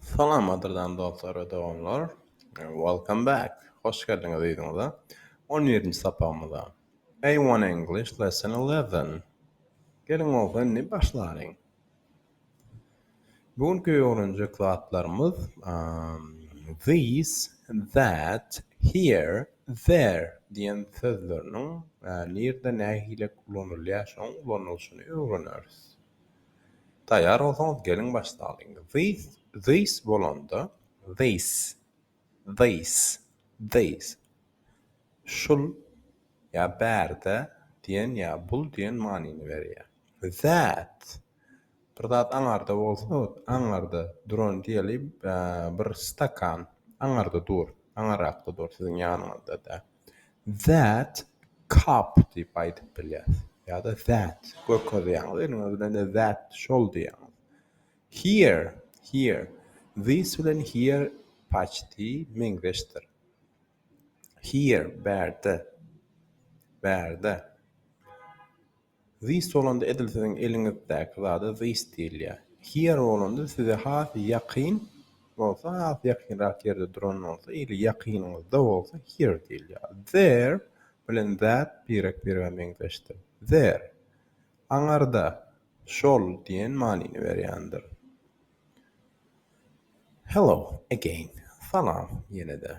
Salamadyrdan dostlar we doganlar. Welcome back! Hoş geldiňiz yzyňyza. On birinji sapagymyza. A one English lesson eleven. Geliň bolsa indi başlalyň. Bu günki öwrenjek zatlarymyz these, that, here, there diýen sözleriniň nirde nähili ulanylýar şoň ulanylyşyny öwreneris. Taýýar bolsaňyz geliň başlalyň. This, this bolanda, this, this, this, şul, ýa bärde diýen ýa bul diýen manyny berýär. That, bir zat aňarda bolsa, aňarda duran diýeli, bir stakan aňarda dur, aňarakda dur, siziň ýanyňyzda däl. That cup diýip aýdyp bilýäs. Ýa-da that görkezýäňiz. Iniň özi bilen de that şol diýýäňiz. Here, here. This bilen here paçti meňzeşdir. Here bärde. Bärde. This bolanda edil siziň eliňizdäki zada this diýilýär. Here bolanda size has ýakyn bolsa has ýakynrak ýerde duran bolsa ili ýakynyňyzda bolsa here diýilýär. There bilen that birek-birege meňzeşdir. There, aňarda, şol diýen manyny berýändir. Hello again, salam ýene-de.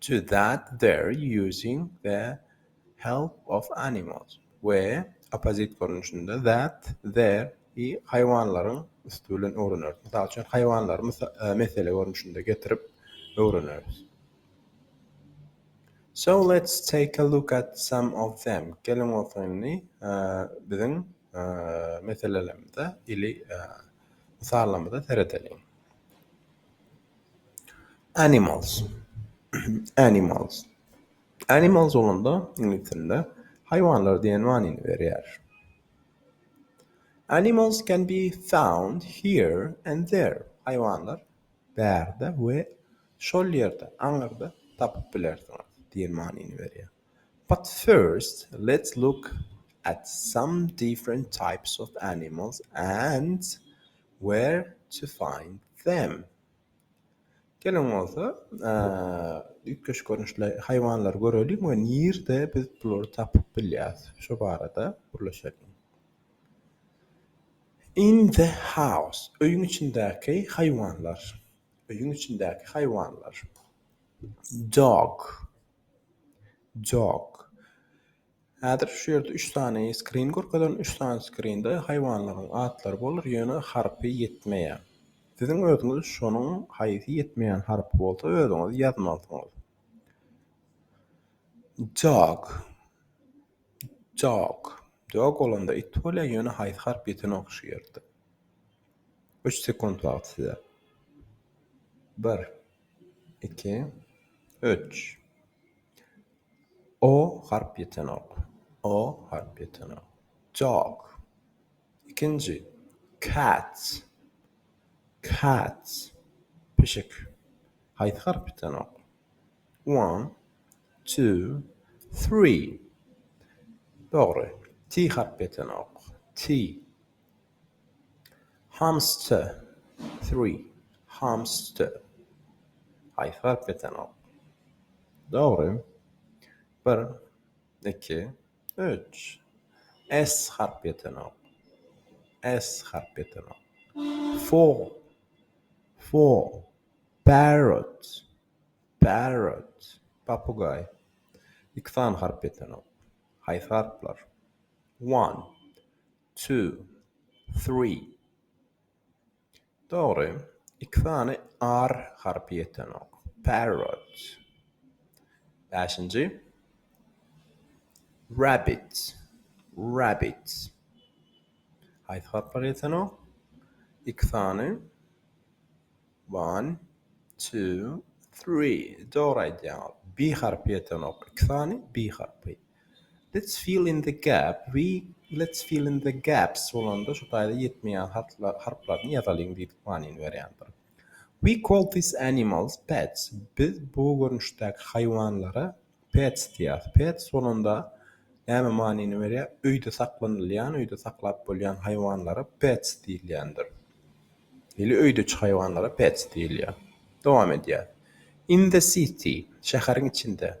to that there using the help of animals we opposite görnüşinde that there i haýwanlaryň üsti bilen öwreneris. Mysal üçin, haýwanlary mesele görnüşinde getirip öwreneris. So let's take a look at some of them. Geliň bolsa indi biziň meselelerimize ili mysallarymyza seredeliň. Animals Animals Animals bolanda iňlis dilinde haýwanlar diýen manyny berýär. Animals can be found here and there. Haýwanlar bärde we şol ýerde, aňyrda tapyp bilersiňiz diýen manyny berýär. But first let's look at some different types of animals and where to find them. Geliň bolsa üýtgeşik görnüşli haýwanlary göreliň we nirde biz bulary tapyp bilýäris şu barada gürleşeliň. In the house öýüň içindäki haýwanlar. Öýüň içindäki haýwanlar. Dog Jok. Häzir şu ýerde üç sany skrin görkezildi. Üç sany skrinde haýwanlaryň atlary bolar, ýöne harpy ýetmeýär. Siziň özüňiz şonuň haýsy ýetmeýän harpy bolsa özüňiz ýazmalysyňyz. Jok. Jok. Jok bolanda it bolýar, ýöne haýsy harp ýetenok şu ýerde. Üç sekunt wagt size. Bir. iki, üç. O harp ýetenok. O harp ýetenok. Jok. Ikinji. Cats. Cats. Pişik. Haýsy harp ýetenok? One, two, three. Dogry. T harp ýetenok. T. Hamster, three, hamster. Haýsy harp ýetenok? Dogry. Bir, iki, üç. S harp ýetenok. S harp ýetenok. Four, four, parrot, parrot, papugaý. Iki sany harp ýetenok. Haýsy harplar? One. Two, three. Dogry, iki sany r harpy ýetenok. Parrot. Bäşinji. Rabbit, rabbit. Haýsy harplar ýetenok? Iki sany. One, two, three. Dogry aýdýaňyz. B harpy ýetenok. Iki sany B harpy. Let's fill in the gap we let's fill in the gaps bolanda şu taýda ýetmeýän harplar harplaryny ýazalyň diýip manyny berýändir. We call these animals pets. Biz bu görnüşdäki haýwanlara pets diýýäs. Pets bolanda näme manyny berýär? Öýde saklanylýan, öýde saklap bolýan haýwanlara pets diýilýändir. Ili öýdüçi haýwanlara pets diýilýär. Dowam edýär. In the city, şäheriň içinde.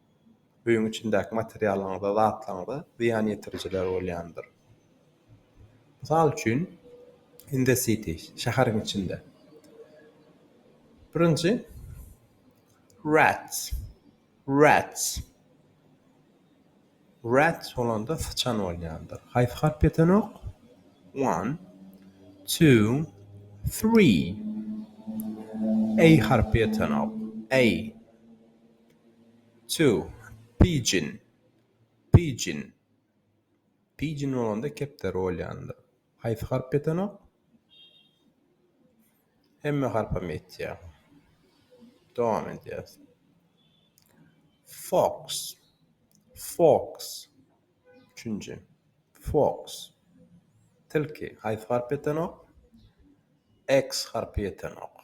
öýüň içindäki materiallaryňyza, zatlaryňyza zyýan ýetirijiler bolýandyr. Mysal üçin, in the city, şäheriň içinde. Birinji, rats, rats. Rats bolanda syçan bolýandyr. Haýsy harp ýetenok? One, two, three. A harpy ýetenok. A. To, pidgin, pidgin, pidgin bolanda kepderi bolýandyr. Haýsy harp ýetenok? Hemme harpam ýetýär. Dowam edýäs. Fox, fox, üçünji, fox, tilki. Haýsy harp ýetenok? X harpy ýetenok.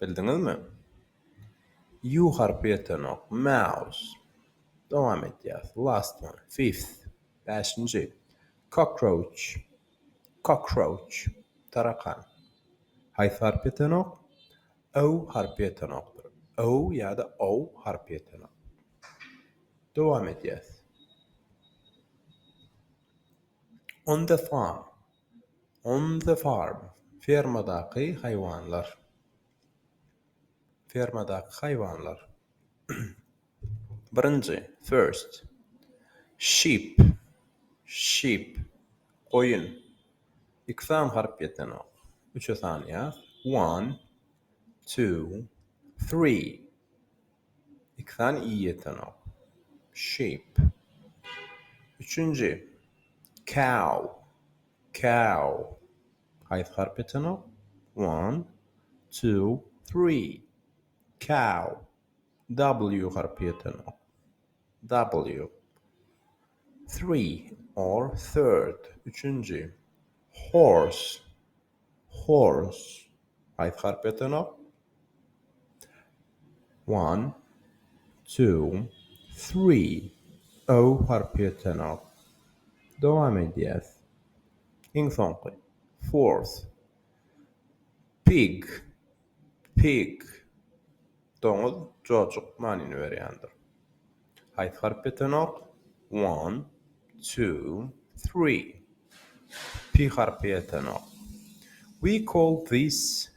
Bildiňizmi? Ýu harpy ýetenok. Maus. Dowam edýäs. Last one. Fifth. Bäşinji. Cockroach. Cockroach. Tarakan. Haýsy harp ýetenok? O harpy ýetenokdyr. O ýa-da O harpy ýetenok. Dowam edýäs. On the farm. On the farm, fermadaky haýwanlar. Fermadaky haýwanlar. Birinji, first. Sheep, sheep, goýun. Iki sany harp ýetenok. Üçe sanýas. One, two, three. Iki sany i ýetenok. Sheep. Üçünji. Cow. Cow. Haýsy harp ýetenok? One, two, three. Cow. W harpy ýetenok. W. Three or third, üçünji. Horse, horse. Haýsy harp ýatanok? One, two, three. O harpy ýatanok. Dowam edýäs. Iň soňky. Fourth. Pig. Pig, doňuz, jojuk manyny berýändir. Haýsy harp ýetenok? One, two, three. P harpy ýetenok. We call these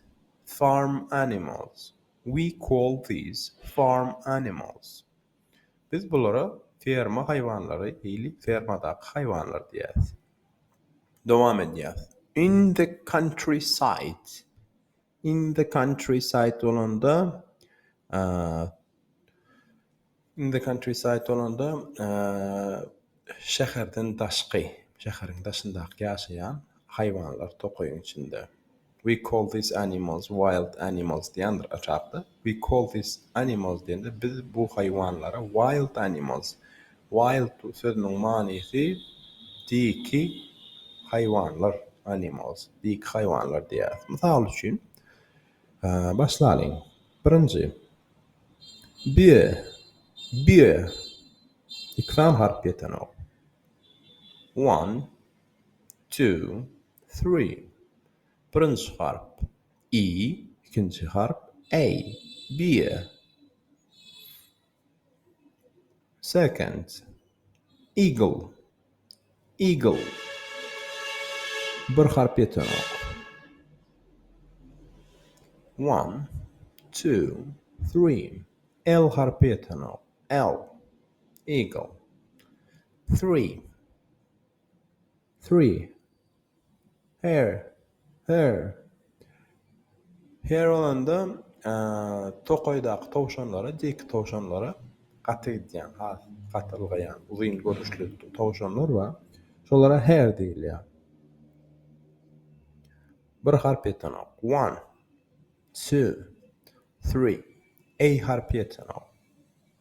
farm animals. We call these farm animals. Biz bulara ferma haýwanlary, ili fermadaky haýwanlar diýýäs. Dowam edýäs. In the countryside. In the countryside bolanda, in the countryside bolanda, şäherden daşky, şäheriň daşyndaky ýaşaýan haýwanlar tokaýyň içinde. We call these animals wild animals diýendir aşakda. We call these animals diýende biz bu haýwanlara wild animals, wild sözüniň manysy diki haýwanlar, animals, diki haýwanlar diýýäris. Mysal üçin, başlalyň. Birinji, bie, bie, iki sany harp ýetenok. One, two, three, birinji harp. i, ikinji harp, a, beer, second, eagle, eagle, bir harp ýetenok, one, two, three, l harpy ýetenok, elk, eagle, three, Three. Her, Her. Her bolanda tokaýdaky towşanlara, diýki towşanlara gaty gidýän, has gaty ylgaýan, uzyn görnüşli towşanlar bar. Şolara her diýilýär. Bir harp ýetenok. One, two, three. A harpy ýetenok.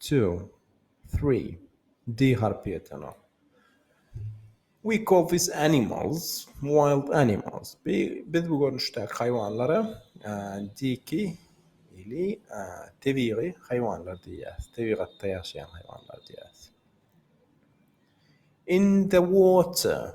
Two, three, D harpy ýetenok. We call these animals wild animals. Biz bu görnüşdäki haýwanlara diki ili tebigy haýwanlar diýýäris, tebigatda ýaşaýan haýwanlar diýýäris. In the water.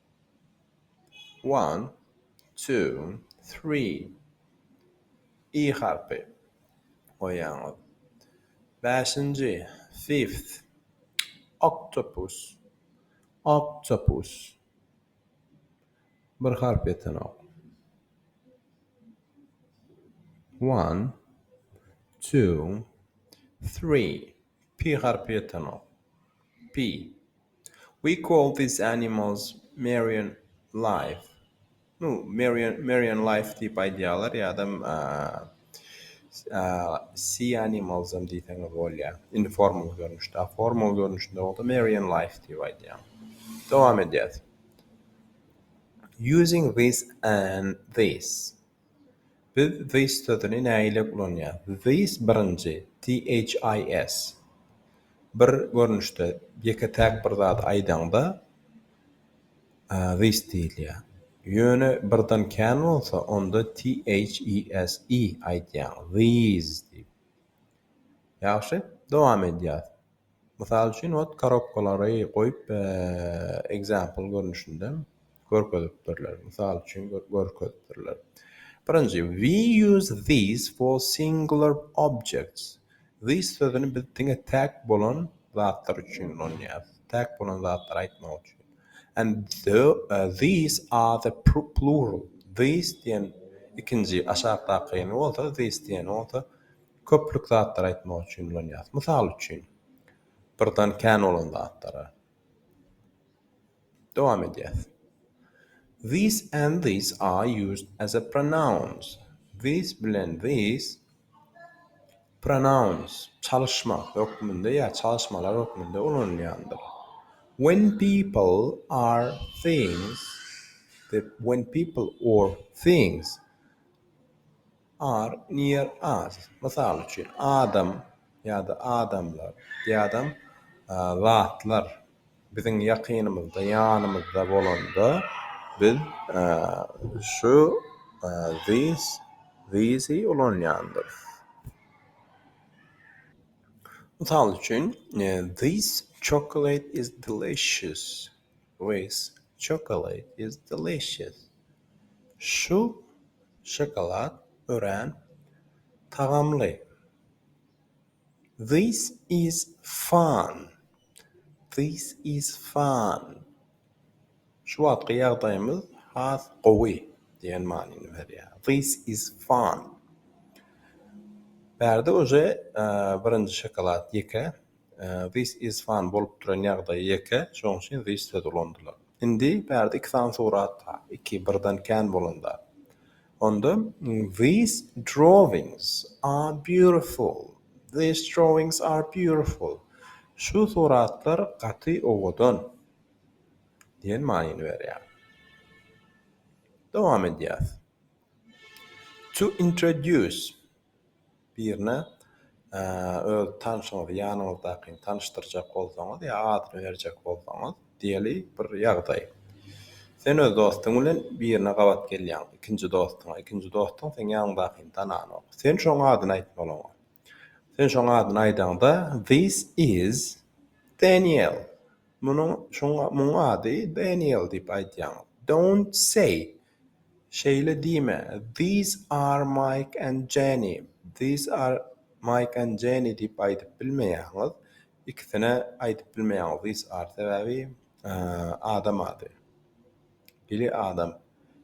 One, two, three. I harpy goýýaňyz. Bäşinji, fifth. Octopus, octopus. Bir harp ýetenok. One, two, three. P harpy ýetenok. P, We call these animals Marian Life. Nu, Marian, Marian Life diýip aýdýarlar ýa-da Sea Animals-am diýseňiz bolýar. Indi formal görnüşde. A formal görnüşinde bolsa Marian Life diýip aýdýar. Dowam edýäs. Using this and this. Biz this sözüni nägile ulanýarys? This birinji, THIS. Bir görnüşde, ýeke-täk bir zady aýdaňda this diýilýär. Ýöne birden kän bolsa, onda THES, i, aýdýaň, these diýip. Ýagşy, dowam edýäris. Mysal üçin ot korobkalary goýup example görnüşinde görkezipdirler. Mysal üçin görkezipdirler. Birinji we use these for singular objects. These sözüni biz diňe täk bolan zatlar üçin ulanýarys. Täk bolan zatlary aýtmak üçin. And the, uh, these are the plural. These diýen ikinji aşakdaky bolsa these diýen bolsa Köplük zatlary aýtmak üçin ulanýas. Mysal üçin, birden kän bolan zatlara. Dowam edýäs. These and these are used as a pronouns. These bilen these pronouns, çalyşma hökmünde ýa çalyşmalar hökmünde ulanylýandyr. When people are things, when people or things Are, near us, mysal üçin, adam ýa-da adamlar ýa-da zatlar biziň ýakynymyzda, ýanymyzda bolanda, biz şu, this, these-i ulanýandyrys. Mysal üçin, This chocolate is delicious. This chocolate is delicious. Şu şokolad örän tagamly. This is fun. This is fun. Şu wagtky ýagdaýymyz has gowy diýen manyny berýär. This is fun. Bärde uje birinji şokolad ýeke. This is fun bolup duran ýagdaýy ýeke, şoň üçin this sözi ulandylar. Indi bärde iki sany surat bar, iki birden kän bolan zat. Onda These drawings are beautiful. These drawings are beautiful. Şu suratlar gaty owadan diýen manyny berýär. Dowam edýäs. To introduce birine öz tanşyňyzy, ýanyňyzdakyny tanyşdyrjak bolsaňyz ýa adyny berjek bolsaňyz, diýeli bir ýagdaý. Sen öz dostuň bilen birine gabat gelýäň, ikinji dostuňa. Ikinji dostuň seň ýanyňdakyny tananok. Sen şoň adyny aýtmaly oňa. Sen şoň adyny aýdaňda, This is Daniel. Munuň, şoň, muň ady Daniel diýip aýdýaň. Don't say. Şeýle diýme, These are Mike and Jenny, These are Mike and Jenny diýip aýdyp bilmeýäňiz. Ikisine aýdyp bilmeýäňiz these are sebäbi adam ady. Biri adam.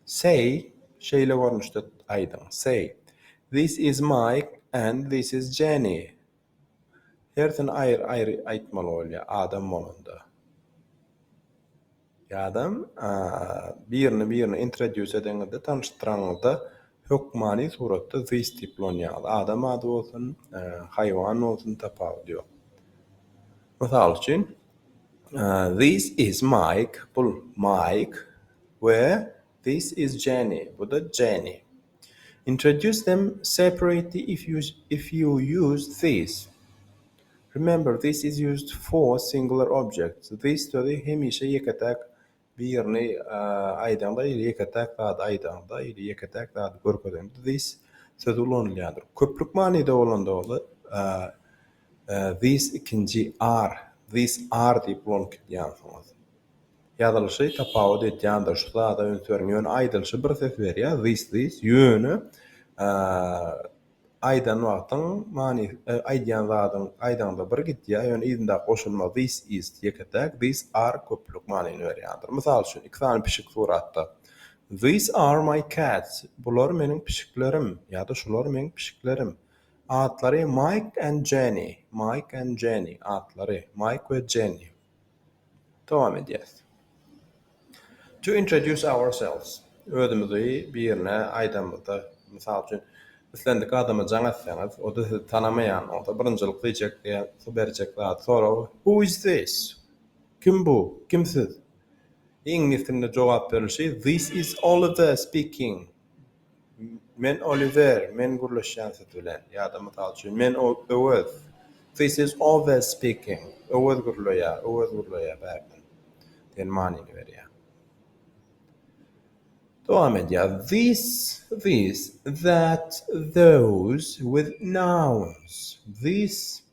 Say, şeýle görnüşde aýdyň, Say, This is Mike and this is Jenny. Hersini aýry-aýry aýtmaly bolýar adam bolanda. Ýa-dam, birini birine introdýus edeňizde, tanyşdyraňyzda hökmany suratda this diýip ulanýaňyz. Adam ady bolsun, haýwan bolsun, tapawudy ýok. Mysal üçin, this is Mike, bul Maýk we this is Jenny, bu-da Jenny. Introduce them separately if you if you use these. Remember this is used for singular objects. This sözi hemişe ýeke-täk birini aýdaňda ýa-da ýeke-täk zady aýdaňda ýa-da ýeke-täk zady görkezeňde this sözi ulanylýandyr. Köplük manyda bolanda bolsa this ikinji are, these are diýip ulanyp gidýänsiňiz. Ýazylyşy tapawut edýändir şu zada üns beriň ýöne aýdylyşy bir ses berýär this this ýöne aýdan wagtyň manysy aýdýan zadyň aýdaňda bir gidýär ýöne yzyndaky goşulma this is ýeke täk these are köplük manyny berýändir mysal üçin iki sany pişik suratda these are my cats bular meniň pişiklerim ýa-da şular meň pişiklerim atlary mike and jenny mike and jenny atlary mike we jenny Dowam edýäs. To introduce ourselves, özümizi birine aýdamyzda, mysal üçin, islendik adama jaň etseňiz, o-da sizi tanamaýan bolsa, birinjilik diýjek ýa-da berjek zady, soragy, Who is this? Kim bu? Kim siz? Iňlis dilinde jogap berilişi, This is Oliver speaking. Men Oliwer, men gürleşýän siz bilen. Ýa-da, mysal üçin, men Öwez, This is Owez speaking. Öwez gürleýär, Öwez gürleýär bärden diýen manyny berýär. Dowam edýär, This, these, that, those, with nouns. This,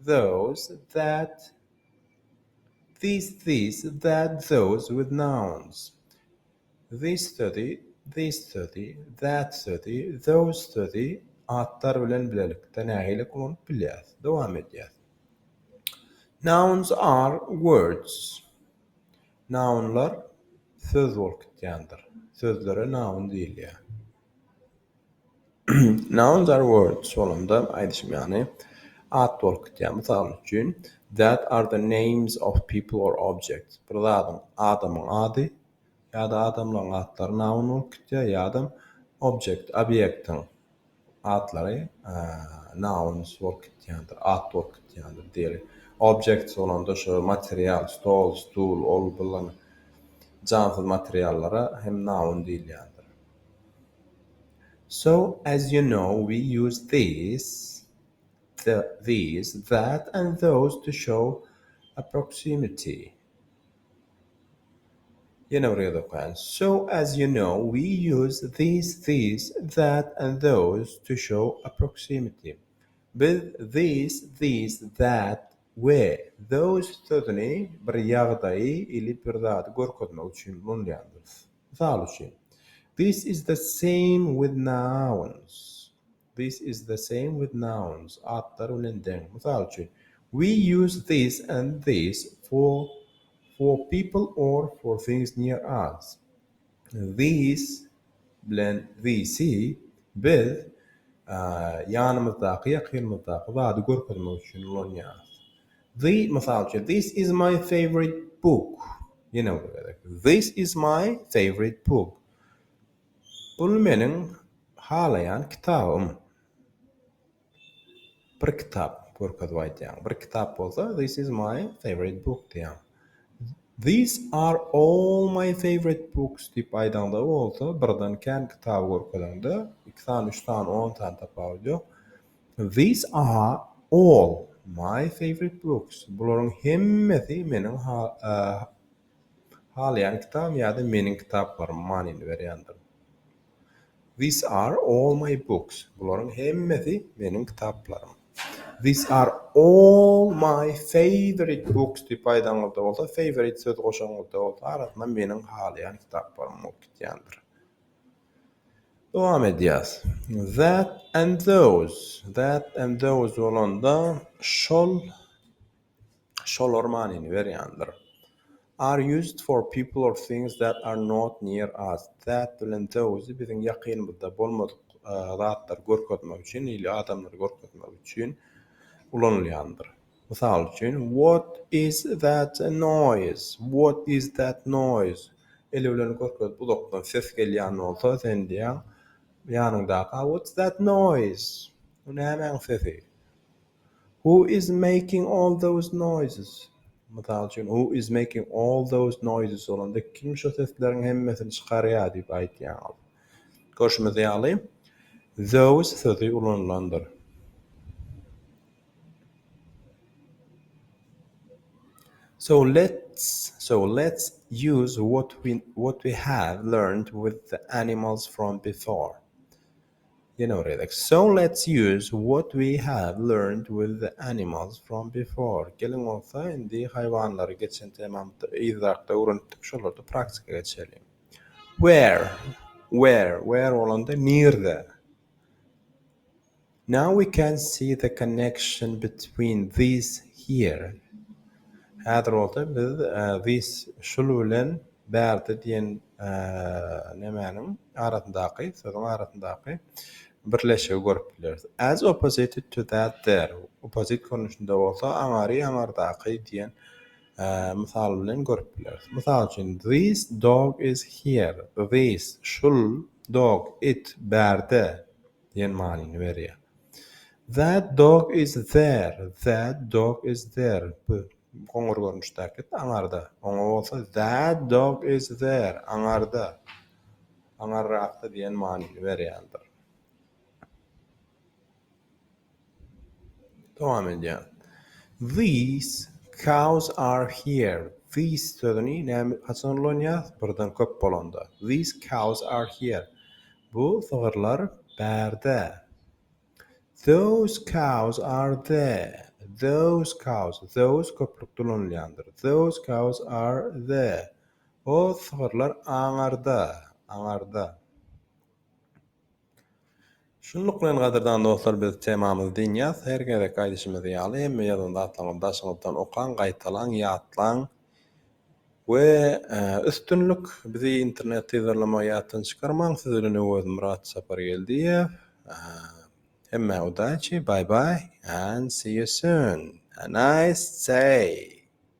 those, that, these, these, that, those, with nouns. This sözi, this sözi, that sözi, those sözi atlar bilen bilelikde nähili ulanyp bilýäris? Dowam edýäs. Nouns are words. Nounlar söz bolup gitýändir. Sözlere noun diýilýär. Nouns are words bolanda aýdyşym ýaly at bolup gitýär. Mysal üçin, that are the names of people or objects. Bir zadyň, adamyň ady, ýa-da adamlaryň atlary noun bolup gitýär ýa-da object, obýektiň atlary nouns bolup gitýändir, at bolup gitýändir diýeli. Objects bolanda şu material, stol, stul, ol bulan jansyz materiallara hem noun diýilýändir. So, as you know, we use this, the, these, that and those to show a proximity. Ýene bir ýerde okaýan. So as you know we use these, these, that and those to show a proximity. Biz this, these, that we those sözüni bir ýagdaýy ili bir zady görkezmek üçin ulanýarys. Mysal üçin, This is the same with nouns. This is the same with nouns, atlar bilen deň. Mysal üçin, We use this and this for for people or for things near us. This bilen this-i biz ýanymyzdaky, ýakynymyzdaky zady görkezmek üçin ulanýarys. The, mysal üçin, This is my favorite book. Ýene bir gezek, This is my favorite book. Bul meniň halaýan kitabym. Bir kitap görkezip aýdýaň. Bir kitap bolsa this is my favorite book diýýäň. These are all my favorite books diýip aýdaňda bolsa birden kän kitaby görkezeňde iki sany üç sany on sany tapawudy ýok. These are all my favorite books bularyň hemmesi meniň Halaýan kitabym ýa-da meniň kitaplarym manyny berýändir. These are all my books. Bularyň hemmesi meniň kitaplarym. These are all my favorite books diýip aýdaňyzda bolsa, favorite sözi goşaňyzda bolsa, arasyna meniň halaýan kitaplarym bolup gitýändir. Dowam edýäs. That and those. That and those bolanda şol şolar manyny berýändir. Are used for people or things that are not near us. That bilen those biziň ýakynymyzda bolmadyk zatlary görkezmek üçin, ili adamlary görkezmek üçin ulanylýandyr. Mysal üçin, What is that noise? What is that noise? Eli bilen görkezip uzakdan ses gelýän bolsa, sen diýýäň ýanyňdaky, What's that noise? Bu nämäň sesi? Who is making all those noises? Mysal üçin, Who is making all those noises? bolanda, kim şo sesleriň hemmesini çykarýar diýip aýdýaňyz. Görşümiz ýaly, those sözi ulanylandyr. So let's so let's use what we what we have learned with the animals from before. So let's use what we have learned with the animals from before, Geliň bolsa indi haýwanlary geçen temamyzda, yzrakda öwrenipdik, şolary praktika geçireliň. Where, Where, Where bolanda nirde? Now we can see the connection between these here, Häzir bolsa biz these, şul bilen, Bärde diýen nemäniň arasyndaky, sözüň arasyndaky birleşigi görüp bileris. As opposite to that there, oppozit görnüşinde bolsa aňary aňardaky diýen mysal bilen görüp bileris. Mysal üçin, this dog is here, this, şul, dog, it, bärde diýen manyny berýär. That dog is there, that dog is there, bu, Goňur görnüşdäki, aňarda. Oňa bolsa That dog is there, aňarda, aňarrakda diýen manyny berýändir. Dowam edýän. These cows are here. These sözüni näme haçan ulanýas? Birden köp bolanda. These cows are here. Bu sygyrlar bärde. Those cows are there. Those cows, those köplük dolanylýandyr. Those cows are there. O sygyrlar aňarda, aňarda. Şunluk bilen gadyrdan dostlar biz temamyzy dynýas. Her gezekki aýdyşymyz ýaly hemme ýazan zatlaryňyzy daşyňyzdan okaň, gaýtalaň, ýatlaň. We üstünlik bizi internet yzarlamagy ýatdan çykarmaň siz bilen Öwezmyrat Sapargeldiýew hemmä udaçi bye bye and see you soon a nice day.